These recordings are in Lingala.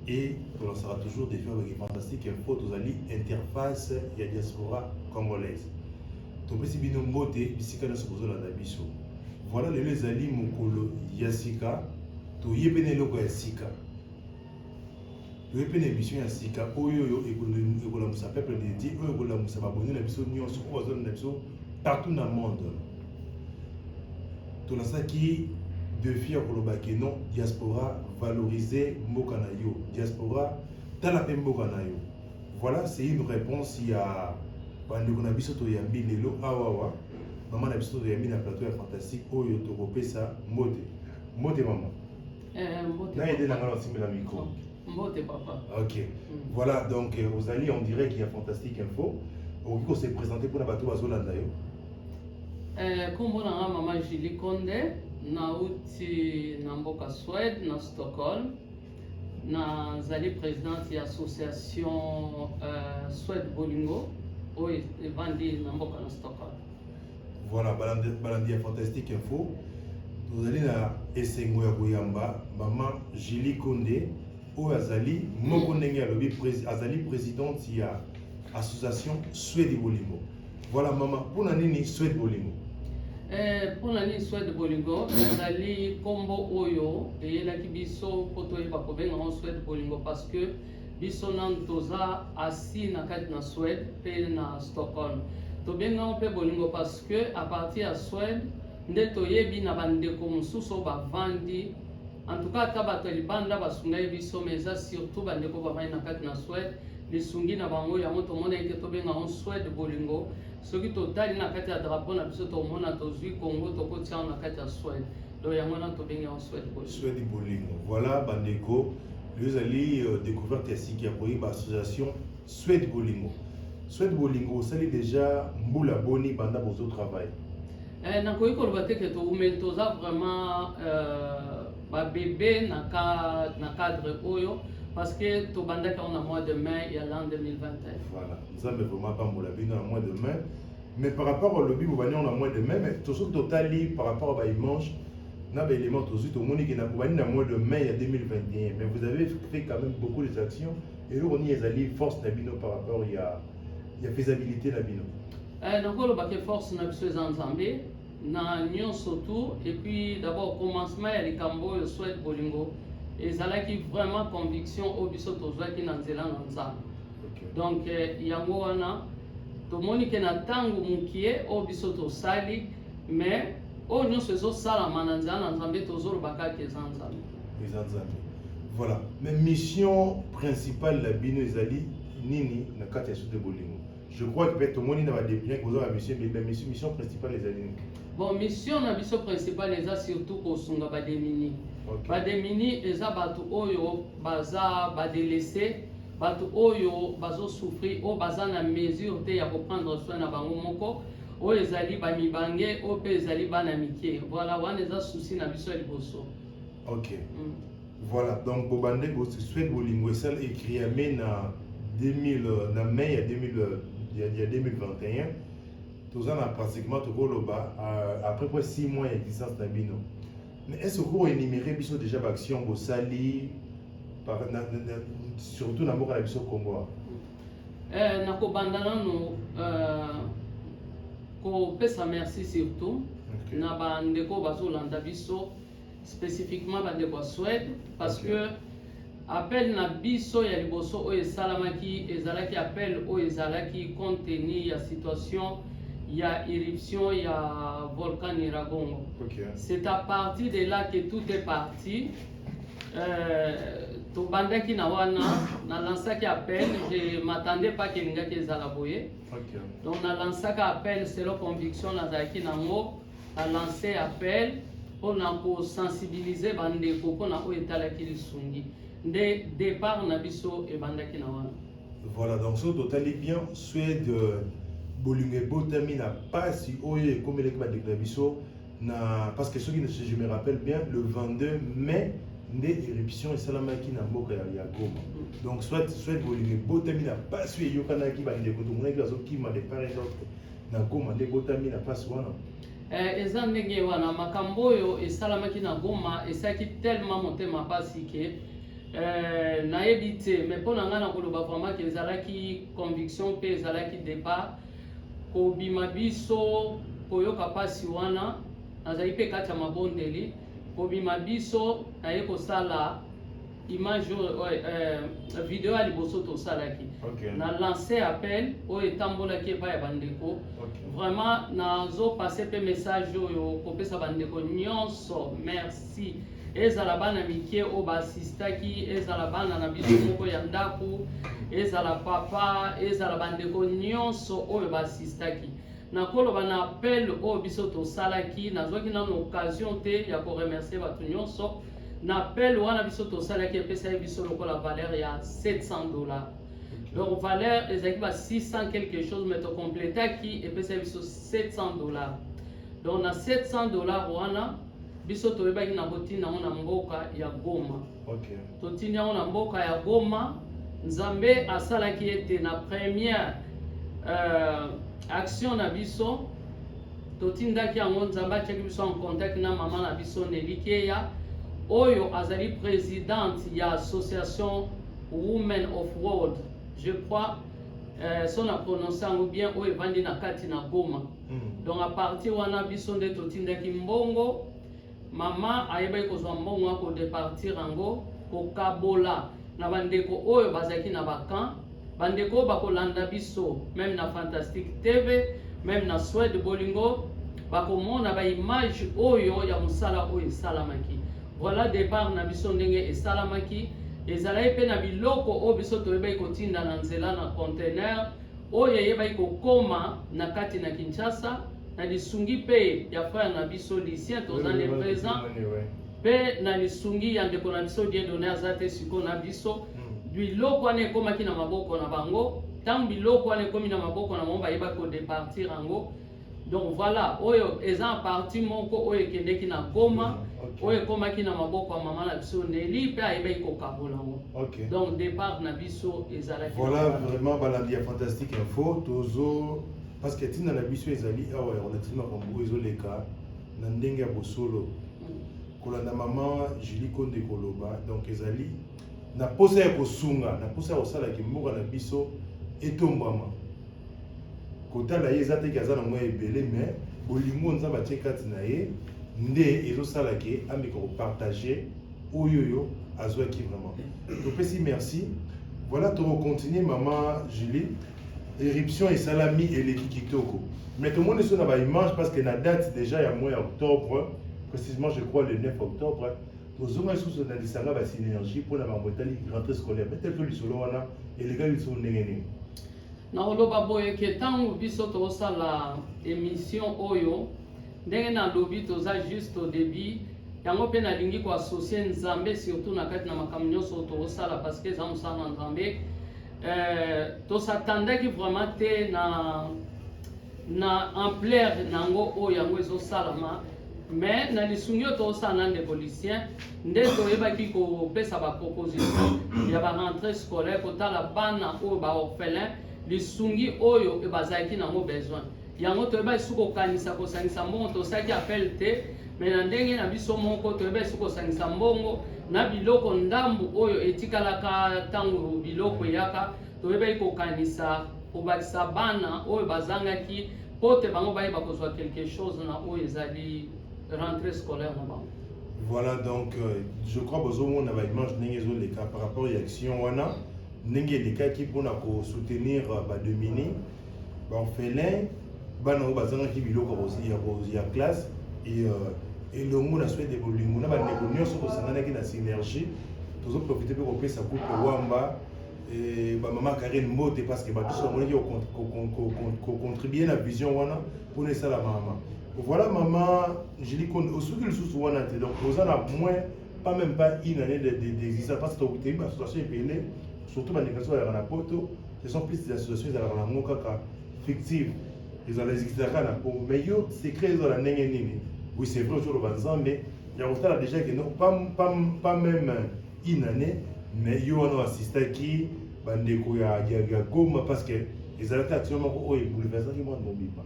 et tolansaka toujours defi avec fantastique info tozali interface ya diaspora congolaise topesi bino mbote bisika nyonso bozolanda biso voilà lelo ezali mokolo ya sika toye mpe na eloko ya sika toye mpe na émission ya sika oyo oyo ekolamusa peuple de dieu oyo ekolamusa baboni na biso nyonso oyo bazolanda biso partout na monde tolasaki defi ya koloba ke non diaspora valoriser mboka na yo diaspora tala mpe mboka na yo voilà c'est une réponse ya bandeko na biso toyambi lelo awawa mama na biso toyambi na plateau ya fantastique oyo tokopesa mbote mbote mama eh, na ede na ngai nasimbela micro Mbote papa. Ok. Mm. Voilà donc euh, ozali on dirait qu'il y a fantastique info. Okoki ko se présenter pona bato bazolanda yo. Eh, kombo na nga mama Julie Konde nauti na mboka Suède na Stockholm. nazali présidente ya association euh, Suède Bolingo oyo evandi na mboka na Stockholm. Voilà, balandi, balandi ya Fantastique Info. Tozali na esengo ya koyamba mama Julie Konde oyo azali moko ndenge alobi azali présidente ya association Swedi Bolingo. Voilà mama, mpona nini Swedi Bolingo? Eh, mpona nini Swedi Bolingo mm. ezali nkombo oyo eyelaki biso mpo toyeba kobenga yango Swedi Bolingo parce que biso nanu toza asi na kati na Suède mpe na Stockholm tobengango mpe bolingo parce que à partir ya Suède nde toyebi na bandeko mosusu oyo bavandi en tout cas ata bato ya libanda basungaki biso mais eza surtout bandeko bavandi na kati na Suède lisungi na bango yango tomonaki te tobenga yango Suède bolingo soki totali na kati ya drapeau na biso tomona tozwi Congo tokotiango na kati ya Suède Donc yango wana tobengi yango swede bolingo. Swede bolingo. Voilà bandeko, lelo ezali euh, découverte ya sika ya koyeba association swede bolingo. Swede bolingo osali déjà mbula boni banda bozo travail? Eh, nakoki koloba te ke toumeli toza vraiment euh, babebe na, ka, na cadre oyo parce que tobandaki yango na mois de mai ya l'an 2021 voilà nzambe vraiment apambola bino na mois de mai Mais par rapport au lobby, vous voyez, on a moins de mai, mais tout ce que totali par rapport à Baïmanche, na ba éléments tozu to moni kena ko bani na mois de mai ya 2021 mais vous avez fait quand même beaucoup des actions et on y ezali force na bino par rapport ya ya faisabilité na bino euh donc on ba que force na biso eza nzambe na nyonso tout et puis d'abord commencement ya likambo oyo souhaite bolingo ezalaki vraiment conviction oyo biso tozwaki na nzela na nzambe donc euh, yango wana Tomoni ke na tango mukie oyo biso tosali mais oyo nyonso ezosalama na nzela na Nzambe tozoloba kaka eza Nzambe. Eza Nzambe. Voilà. Mais mission principale la bino ezali nini na kati ya Sute Bolingo? Je crois que peut-être tomoni na ba bien koza ba mission mais mission mission principale ezali nini? Bon, mission na biso principale eza surtout kosunga ba demini. Okay. Ba demini eza bato oyo baza ba délaissés Bato oyo bazo souffrir oyo baza na mesure te ya ko prendre soin na bango moko oyo ezali ba mibange oyo pe ezali bana mike voilà wana eza souci na biso ya liboso. Okay. Mm. Voilà donc bobande bo se souhaite bolingo esala écrit ya mai na 2000 euh, na mai ya 2000 euh, ya, ya 2021 toza na pratiquement tokoloba euh, après près 6 mois ya existence na bino Mais est-ce que vous énumérez biso déjà b'action bosali surtout na mboka na biso Congo? Euh, na kobanda nano euh, kopesa merci surtout okay. na bandeko bazolanda biso spécifiquement bandeko ya Suède parce okay. que Appel na biso ya liboso oyo esalamaki ezalaki appel oyo ezalaki compte tenu ya situation ya irruption ya volcan Nyiragongo. Okay. C'est à partir de là que tout est parti. Euh, tobandaki na wana na lansaki appel je m'attendais pas kelingaki ezala boye okay. donc na lansaka appel selon conviction nazalaki nango A lancer appel mpo na ko sensibiliser ba ndeko mpo na oyo etalaki lisungi. Nde depart na biso ebandaki na wana. Voilà, donc soki totali bien, Suède euh, bolingo ebotami na pasi oyo ekomelaki bandeko na biso na parce que soki je me rappelle bien le 22 mai nde éruption esalamaki na mboka ya, ya goma donc soit soit bolingo ebotami na pasi oyo eyokanaki bandeko tomonaki bazokima de part et d'autre na goma nde ebotami na mpasi wana eh, eza ndenge wana makambo oyo esalamaki na goma esalaki tellement motema mpasi ke eh, nayebi te mais mpo na ngai nakoloba vraiment ke ezalaki conviction mpe ezalaki départ kobima biso koyoka mpasi wana nazali mpe kati ya mabondeli kobima biso naye kosala image oyo oh, eh, eh, video ya liboso tosalaki okay. na lance appel oyo etambolaki epai ya bandeko okay. vraiment nazopase mpe message oyo kopesa bandeko nyonso merci ezala bana mike oyo baasistaki ezala bana na biso moko ya ndako ezala papa ezala bandeko nyonso oyo baasistaki Nakoloba na appel oyo biso tosalaki, nazwaki nano occasion te ya ko remercier bato nyonso. Na appel wana biso tosalaki epesaki biso lokola valeur ya 700 dollars. Donc valeur ezalaki ba 600 quelque chose mais to completaki epesaki biso 700 dollars. Donc na 700 dollars wana biso toyebaki na botina yango na mboka ya Goma. Okay. Totindi yango na mboka ya Goma. Nzambe asalaki ete na première euh, action na biso totindaki yango nzambe atiaki biso en contact na mama na biso nelikeya oyo azali présidente ya association women of world je crois euh, so na prononce yango bien oyo evandi na kati na goma mm. donc apartir wana biso nde totindaki mbongo Mama ayebaki kozwa mbongo ya kodepartir yango, kokabola na bandeko oyo bazalaki na bakan bandeko oyo bakolanda biso meme na fantastique tv meme na swede bolingo bakomona baimage oyo ya mosala oyo esalamaki voilà départ na biso ndenge esalamaki ezalaki mpe na biloko oyo biso toyebaki kotinda na nzela na conteneur oyo eyebaki kokoma na kati na Kinshasa na lisungi mpe ya frère na biso Lucien toza nde présent mpe na lisungi ya ndeko na biso Dieudonne aza te sikoyo na biso hmm. biloko wana ekomaki na maboko na bango ntango biloko wana ekomi na maboko na bango bayebaki kodepartir yango donc voilà oyo eza parti moko oyo ekendeki na goma okay. oyo ekomaki na maboko ya mama na biso neli mpe ayebaki kokabola yango okay. donc départ na biso ezalaki voilà vraiment balandi ya fantastique info tozo parce que ntina na biso ezali awa ya relative makambo oyo ezoleka na ndenge ya bosolo mm. kolanda mama julie konde koloba donc ezali na mposa ya kosunga na mposa ya kosala kimboka na biso etombwama kotala ye eza te ke aza na mwa ebele me bolingo nzambe atie kati na ye nde ezosala ke ameka kopartage oyo oyo azwaki vraiment topesi merci voilà tokocontinue mama julie éruption esalami eleki kitoko mais tomoni so na baimage parce que na date déjà ya mois ya octobre précisément je crois le 9 octobre tozonga lisusu na lisanga basynergie mpo na bango etali rentrée scolaire peut-être lisolo wana elekaki lisusu ndenge nini Nakoloba boye ke ntango biso tokosala emission oyo ndenge nalobi toza juste au début yango mpe nalingi koassocie nzambe surtout na kati na makambo nyonso oyo tokosala parce que eza mosala na nzambe euh, tosatandaki vraiment te na na ampleur na yango oyo yango ezosalama mais na lisungi oyo tokosala na ndeko lucien nde toyebaki kopesa baproposition ya barentre scolaire kotala bana oyo baorphelin lisungi oyo bazalaki nango besoin yango toyebaki su kokanisa kosangisa mbongo tosalaki appel te me na ndenge na biso moko toyebaki su kosangisa mbongo na biloko ndambu oyo etikalaka ntango biloko eyaka toyebaki kokanisa kobakisa bana oyo bazangaki mpo te bango bayeba kozwa quelque chose na oyo ezali rentrée scolaire na bango voilà donc euh, je crois bozomona baimage ndenge ezoleka par rapport ya action wana ndenge elekaki mpona kosoutenir euh, bademini baorphelin bana oyo bazangaki biloko ya classe et euh, elongo na swede bolingo na bandeko nyonso tosanganaki na synergie tozoprofite mpe kopesa coupe wamba bamama karine mbote parce que bato somonaki kocontribue na vision wana pona esala mama voilà mama Julie Konde osuki lisusu wana te donc oza na moins pas même pas une année d'existence parce que tokuteyi baassociation ebele surtout bandikasi oyaka na poto ce sont plus des associations ezalaka na yango kaka fictive ezala ezikisaka na po mais yo secret ezala ndenge nini oui c'est vrai ozoloba nzambe ya kotala déjà que non pas même une année mais yo wana oassistaki bandeko ya, ya, ya goma parce que ezalaki action moko oyo ebouleversaki mwana mobimba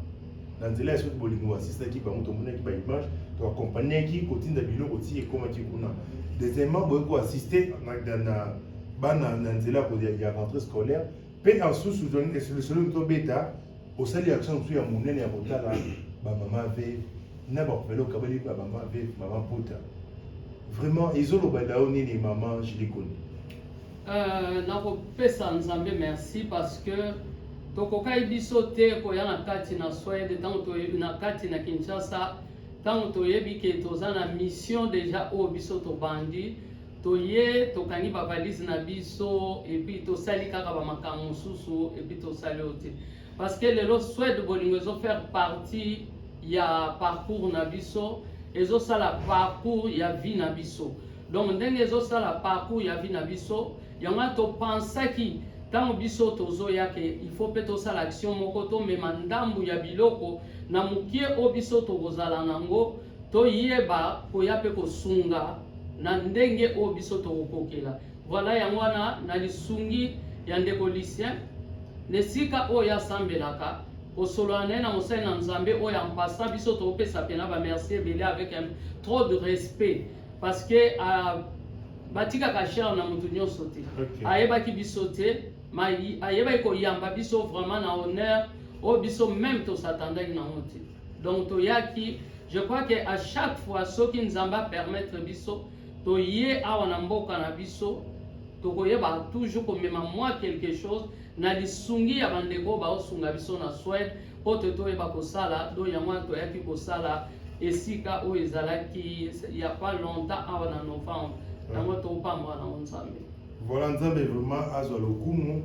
na nzela ya soki bolingi oassistaki bango tomonaki baimage toakompagnaki kotinda biloko ti ekomaki kuna deuxièmement boye koassiste na bana na nzela ya rentrée scolaire mpe ensusu lisolo tobeta Osali action mosusu ya monene ya kotala ba mama veuve na ba orphelin okabeli ba mama veuve mama pota vraiment ezoloba na yo nini mama Julie Koni euh, nakopesa nzambe merci parce que tokokaki biso te koya na kati na swede ntango na kati na kinshasa ntango toyebi ke toza na mission deja oyo biso tobandi toye tokangi bavalise na biso epuis tosali kaka bamakambo mosusu epuis tosali oyo te parce que lelo swede bolingo ezo faire partie ya parcours na biso ezosala parcours ya vie na biso donc ndenge ezosala parcours ya vie na biso yango wana topensaki ntango biso tozoya ke il faut mpe tosala action moko tomema ndambu ya biloko na mokie oyo biso tokozala nango Toyeba koya mpe kosunga na ndenge oyo biso tokokokela. Voilà yango wana na lisungi ya ndeko Lucien na esika oyo asambelaka kosolola na ye na mosali na Nzambe oyo ampasa biso tokopesa mpena bamerci ebele avec un trop de respect parce que uh, batikaka chere na moto nyonso te okay. ayebaki biso te ayebaki koyamba biso vraiment na honneur oyo biso meme tosatandaki nango te donc toyaki je crois que à chaque fois soki nzambe apermettre biso toye awa na mboka na biso tokoyeba toujours komema mwa quelque chose na lisungi ya bandeko oyo baosunga biso na swede mpo te toyeba kosala do yango wana toyaki kosala esika oyo ezalaki ya pas longtemps awa na novembre yango topambwa nango nzambe Voilà Nzambe vraiment azwa lokumu.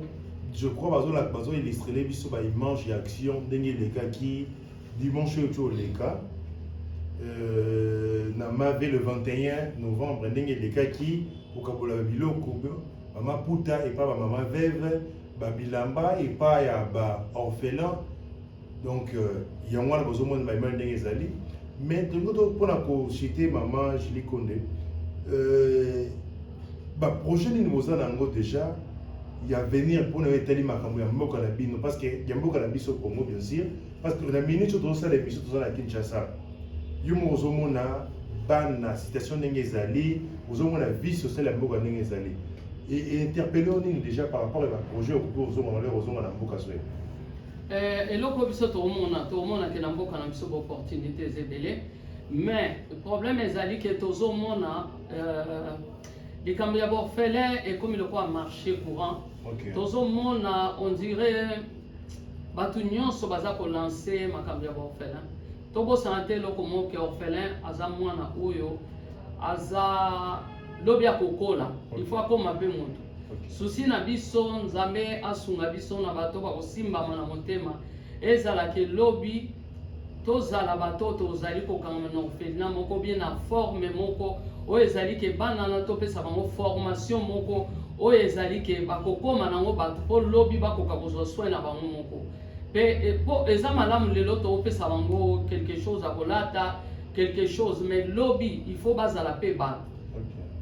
Je crois bazo la bazo illustrer biso ba image ya action ndenge elekaki dimanche oyo toleka euh, na mave le 21 novembre ndenge elekaki kokabola biloko mama puta epa bamama veve babilamba epa ya baorphelin donc euh, yango wana bozomona baimage ndenge ezali mais tolingi to mpona kosite mama julie konde euh, baprojet nini boza na yango déjà ya avenir mpona yo etali makambo ya mboka na bino parce que ya mboka na biso congo bien sûr parce que na minute oyo tozosala émission toza na kinshasa yo moko ozomona bana situation ndenge ezali ozomona vie sociale ya mboka ndenge ezali interpelle o nini déjà par rapport ya baprojet okoki ozonga na lere ozonga na mboka soye Eh, eloko oyo biso tokomona tokomona ke na mboka na biso baopportunité eza ebele mais problème ezali ke tozomona euh, likambo ya baorphelin ekomi lokola marché courant okay. tozomona on dirait bato nyonso baza kolanse makambo ya baorphelin tobosana te eloko moke orphelin aza mwana oyo aza lobi akokola il faut akoma mpe moto susi na biso nzambe asunga biso na bato bakosimbama na motema ezala ke lobi tozala bato tozali kokanga na orphelina moko bie na forme moko oyo ezali ke bana na topesa bango formation moko oyo ezali ke bakokoma nango bato mpo lobi bakoka kozwa soin na bango moko pe po eza malamu lelo topesa bango quelque chose ya kolata quelque chose mais lobi il faut bazala pe bato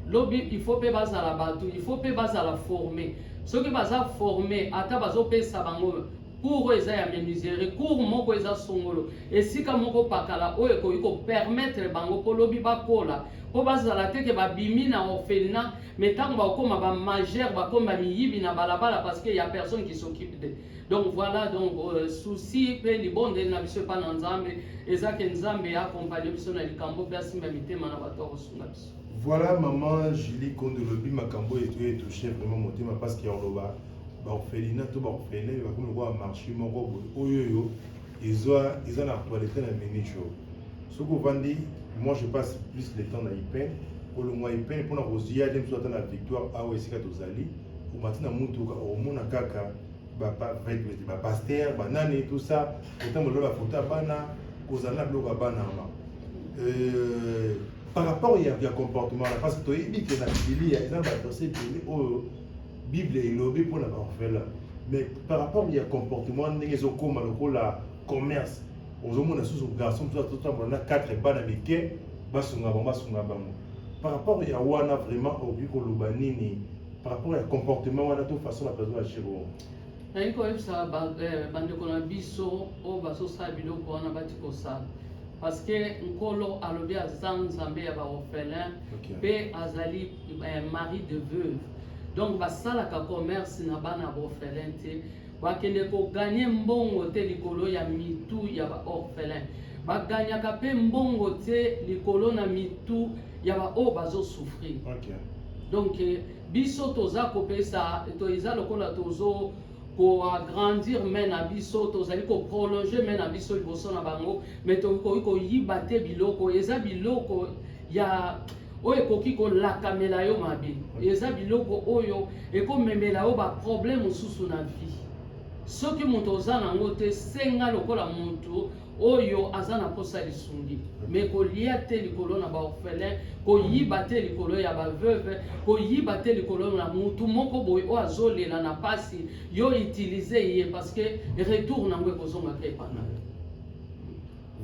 lobi il faut pe bazala bato il faut pe bazala forme soki baza forme ata bazopesa bango cour oyo eza ya menuiserie cour moko eza songolo esika moko pakala oyo ekoki kopermettre bango mpo lobi bakola mpo bazala te ke babimi na orphelinat me ntango bakokoma bamajeur bakoma miyibi na balabala parce que ya personne qui s'occupe de donc voilà donc euh, souci mpe libondeli na biso epai na nzambe eza ke nzambe ya akompagne biso na likambo mpe asimba mitema na bato ya kosunga biso voilà maman julie kondo lobi makambo eto etouche vraiment motema parce que oloba baorphelina to baorphelin bakomi lokola marché moko boye oyo oyo eza na actualité na minute oyo soki ovandi moi je passe plus le temps na ipene kolongwa ipene mpona kozwi yade mosusu ata na victoire awa esika tozali omati na motuka omona kaka bapaster banani tout ça otambola bafoto ya bana kozala na biloko ya bana yango euh, par rapport ya, ya comportement na parce que toyebi ke na bibilia eza na baverse ebele oyo bible elobi mpo na baorphelin mais par rapport ya comportement ndenge ezokóma lokola commerce ozomona susu garçon mosusu azotambola na 4 bana mike basunga bango basunga bango par rapport ya wana vraiment okoki koloba nini par rapport ya comportement wana to façon bato bazo agir wana nalingi koyebisa eh, bandeko na biso oyo bazosala biloko wana bati kosala parce que nkolo alobi aza nzambe ya baorphelin mpe azali eh, mari de veuve donc basalaka commerce na bana baorphelin te Bakende ko gagner mbongo te likolo ya mitu ya ba orphelins. Ba gagnaka pe mbongo te likolo na mitu ya ba oyo bazo souffrir. Okay. Donc eh, biso toza kopesa to eza lokola tozo ko agrandir main na biso tozali ko prolonger main na biso liboso na bango mais tokoki koyiba te biloko eza biloko ya oyo ekoki kolakamela yo mabe eza biloko oyo ekomemela yo baproblème mosusu na vie soki moto oza nango te senga lokola moto oyo aza na mposa lisungi me kolia te likolo na baorphelin koyiba te likolo ya baveuve koyiba te likolo na motu moko boye oyo azolela na mpasi yo utilize ye parce que retour nango ekozongaka epana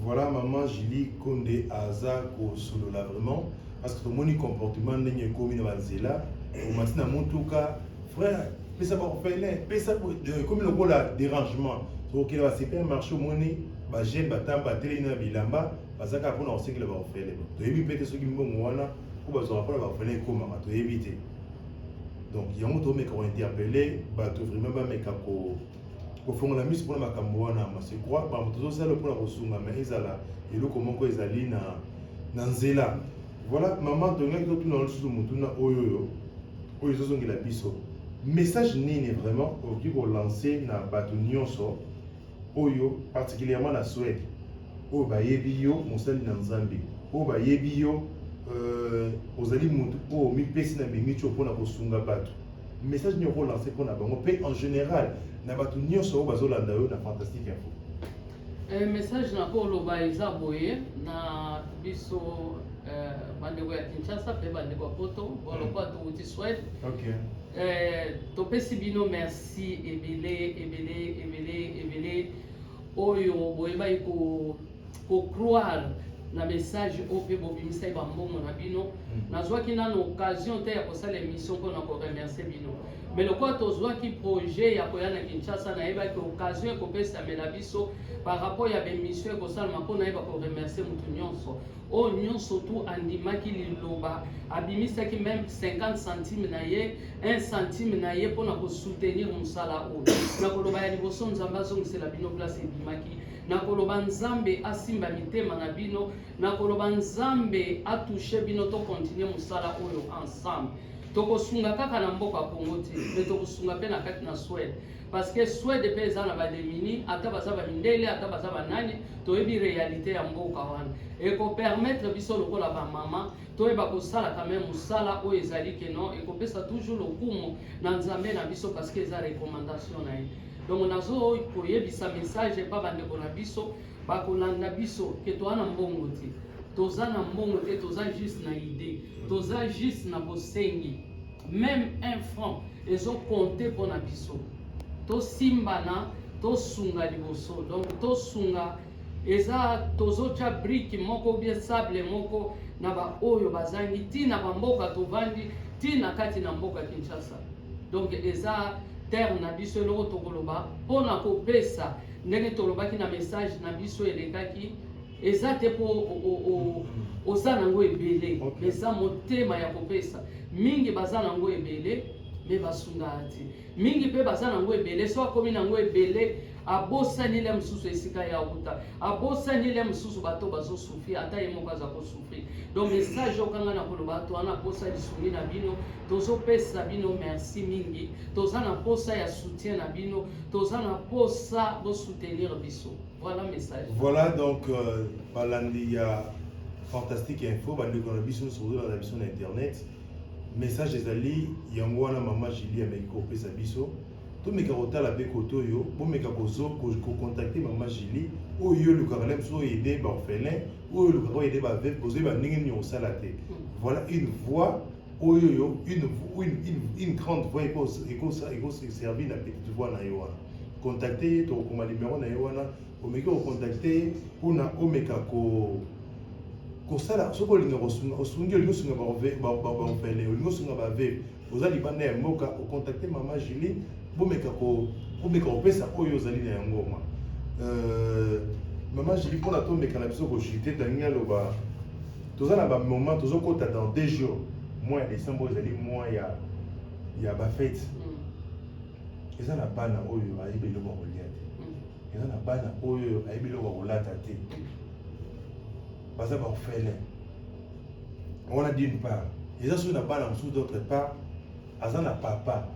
Voilà maman Julie Konde aza kosolola vraiment parce que tomoni comportement ndenge ekomi na banzela omati na motuka frère pesa baorphelin pesa ekomi lokola dérangement tokokende ba supermarché omoni bajeune batambo batelemi na bilamba baza kaka mpona kosekela baorphelin toyebi mpe te soki mbongo wana mpo bazwaka mpona baorphelin ekomaka toyebi te donc yango tomeka kointerpele bato vraiment bameka ko kofongola miso mpona makambo wana mase kwa bango tozosala mpona kosunga ma ezala eloko moko ezali na na nzela voilà mama tolingaki totuna lisusu motuna oyo oyo oyo ezozongela biso message nini vraiment okoki kolanse na bato nyonso oyo particulièrement na swede oyo bayebi yo mosali na nzambe oyo bayebi yo euh, ozali motu oyo mipesi na mimico mpona kosunga bato message nini oko lancer pona bango pe en general na batu nyonso oyo bazo landa yo na fantastique info eh, message na ko loba eza boye na biso eh, bandeko ya Kinshasa pe bandeko ya Poto bolokola mm. towuti Swede okay. eh, topesi bino merci ebele ebele ebele ebele oyo boyebaki ko ko croire na message oyo mpe bobimisaki bambongo na bino hmm. nazwaki nano occasion te ya kosala émission mpo na koremercie bino me lokola tozwaki projet ya koya na kinshasa nayebaki occasion ekopesamela biso par rapport ya bemission ekosalama mpo nayeba koremercie motu nyonso oyo nyonso tu andimaki liloba abimisaki meme 50 centime na ye 1 centime na ye mpo na kosoutenir mosala oyo na koloba ya liboso nzambe azongisela bino place ebimaki nakoloba nzambe asimba mitema na bino nakoloba nzambe atushe bino tokontinue mosala oyo ensemble tokosunga kaka na mboka congo te me tokosunga mpe na kati na swede parce que swede mpe eza na bademini ata baza bamindele ata baza banani toyebi réalité ya mboka wana ekopermettre biso lokola bamama toyeba kosala quand même mosala oyo ezali keno ekopesa toujours lokumu na nzambe na biso parce que eza recommandation na ye Donc nazo koyebisa message epa bandeko na biso bakolanda biso ke toa na mbongo te toza na mbongo te toza juste na idée toza juste na bosengi meme un franc ezokonte mpo na biso tosimbana tosunga liboso donc tosunga eza tozotya brike moko bie sable moko na baoyo bazangi ti na bamboka tovandi ti na kati na mboka kinshasa donc eza terre na biso eloko tokoloba mpo na kopesa ndenge tolobaki na message na biso elekaki eza te mpo oza nango ebele eza motema ya kopesa mingi baza nango ebele me basungaka te mingi mpe baza nango ebele so akomi nango ebele abosani le mosusu esika ya uta abosani le mosusu bato bazosufri ata ye moko aza kosufri donc message okanga na koloba to wana posa lisungi na bino tozopesa bino merci mingi toza na posa ya soutien na bino toza na posa bosoutenir biso voilà message voilà donc euh, balandi ya fantastique info bandeko na biso nyonso kozolanda biso na internet message ezali yango wana mama julie ameki kopesa biso Tomeka kotala pe kote oyo bomeka kozo kocontacte mama Julie oyo yo olukaka na biso oede baorphelin oyo olukaka oede baveuve bozoyeba ndenge nini okosala te voilà une voix oyo yo une, une, une, une grande voix ekoservi na petite voix na ye wana contacte ye tokokoma numero na ye wana omeki kocontacte ye mpona omeka ko kosala soki olinga kosunga osungi olingi osunga baorphelin olingi osunga baveuve oza libanda ya mboka ocontacte mama julie bomeka komeka kopesa oyo ozali na yango ma euh, mama julie mpona tomeka na biso kojute talingi aloba toza na bamoment tozokota dans deux jours mois ya décembre ezali mois ya ya bafete mm. eza na bana oyo ayebi eloko ya kolia te mm. eza na bana oyo ayebi eloko ya kolata te baza baorphelin wana d'une part eza soki na bana mosusu d'autre part aza na papa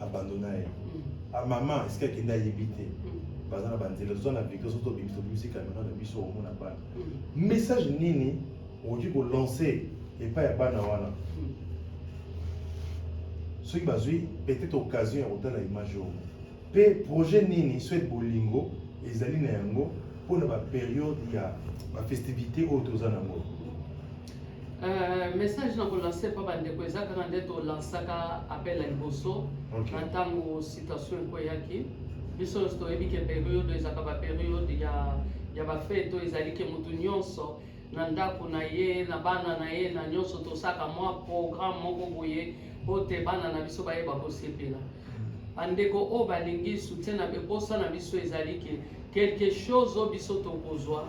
abandona ye mm. mama esiki akende ayebi te mm. baza na banzela toza na victor soki tobimisi tobimisi kamera na biso omona bana mm. message nini okoki kolancer epai ya bana wana soki bazwi peut-être occasion ya kotala image oyo Mpe projet nini soit bolingo ezali na yango mpo na baperiode ya bafestivité oyo toza na yango euh, message na kolanse mpo bandeko eza kaka nde tolansaka appel ya liboso na ntango citation ekoyaki biso nyonso toyebi ke periode ezalaka baperiode ya ya bafete oyo ezali ke moto nyonso na ndako na ye na bana na ye na nyonso tosaka mwa programme moko boye mpo te bana na biso bayeba kosepela bandeko oyo balingi soutien na beposa na biso ezali ke quelque chose oyo biso tokozwa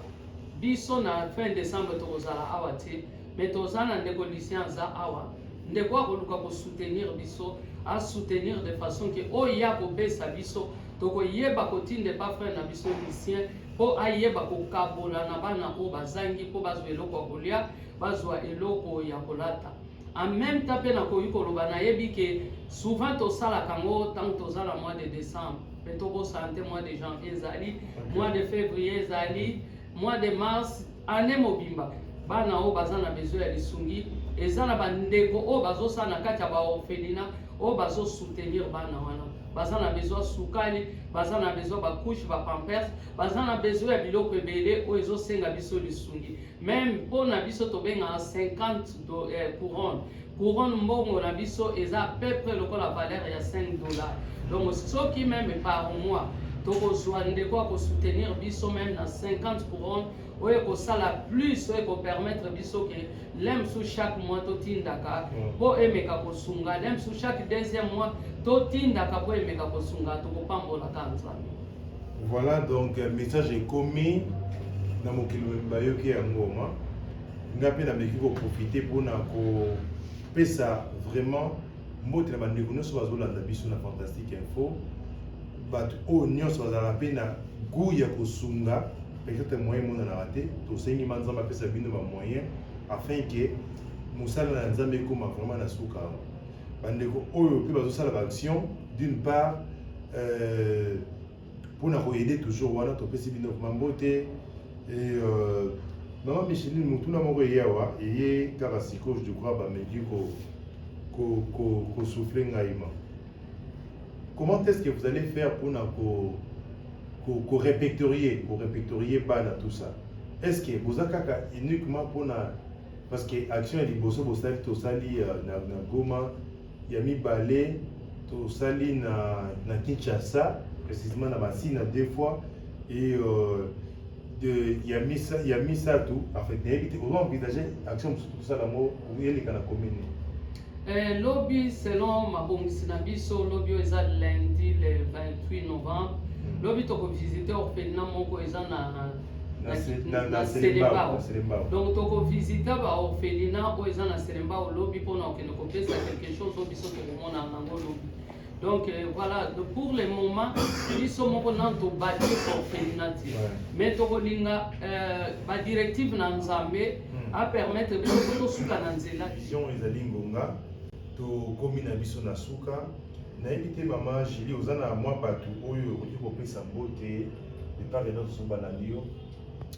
biso na fin décembre tokozala awa te me toza na ndeko lucien aza awa ndeko akoluka kosoutenir biso asoutenir de façon ke oyo ye akopesa biso tokoyeba kotinda epa frere na biso lucien mpo ayeba kokabola na bana oyo bazangi mpo bazwa eloko ya kolia bazwa eloko ya kolata en même temps mpe nakoki koloba nayebi ke souvent tosalaka yango ntango toza na mois de décembre mpe tobosana te mois de janvier ezali mois de février ezali mois de mars année mobimba bana oyo baza na besoin ya lisungi eza na bandeko oyo bazosala na kati ya baorphelina oyo bazosoutenir bana wana baza na besoin sukali baza na besoin bacouche bapampers baza na besoin ya biloko ebele oyo ezosenga biso lisungi meme mpo na biso tobengaka 50 do, eh, couronne couronne mbongo na biso eza peu près lokola valeur ya 5 dollars donc soki meme par mois tokozwa ndeko ya kosoutenir biso meme na 50 couronne oyo ekosala plus oyo ekopermettre biso ke lemsu chaque mois totindaka mpo mm. emeka kosunga lemsu chaque deuxième mois totindaka mpo emeka kosunga tokopambolaka nzambe voilà donc euh, message ekomi na mokili mobimba yoki ya ngoma ngai mpe nameki koprofite mpona kopesa vraiment Mbote na bandeko nyonso bazolanda biso na Fantastique Info, bato oyo nyonso bazalaka mpe na gout ya kosunga peut-être moyen emonanaka te tosengi ma nzambe apesa bino bamoyen afin ke mosala na nzambe ekoma vraiment na suka bandeko oyo mpe bazosala baaction d'une part euh, Pour na ko aider toujours wana topesi bino vraiment mbote et euh, maman Micheline motuna moko eye awa eye kaka sikoyo je crois bameki ko ko ko ko souffler ngai ma comment est-ce que vous allez faire pour na ko ko ko répertorier ko répertorier bana tout ça est-ce que boza kaka uniquement pour na parce que action ya liboso bosali tosali euh, na, na Goma ya mibale tosali na, na Kinshasa précisément na Masina deux fois et euh, de ya misa ya misato en fait nayebi te ozo envisage action mosusu tosala yango eleka na commune Eh, lobi selon mabongisi na biso lobi oyo eza lundi le 28 novembre lobi tokovisite orphelina moko eza na na selembao donc tokovisite baorphelina oyo eza na selembao lobi mpona kokende kopesa quelque chose oyo biso tokomona yango lobi donc euh, voilà donc, pour le moment biso moko nano tobati orphelina te mais tokolinga euh, badirective na nzambe hmm. apermettre biso tosuka na nzela vision ezali ngonga tokomi na biso na suka nayebi te mama julie oza na mwa bato oyo okoki kopesa mbote de part et d'autre soki balandi yo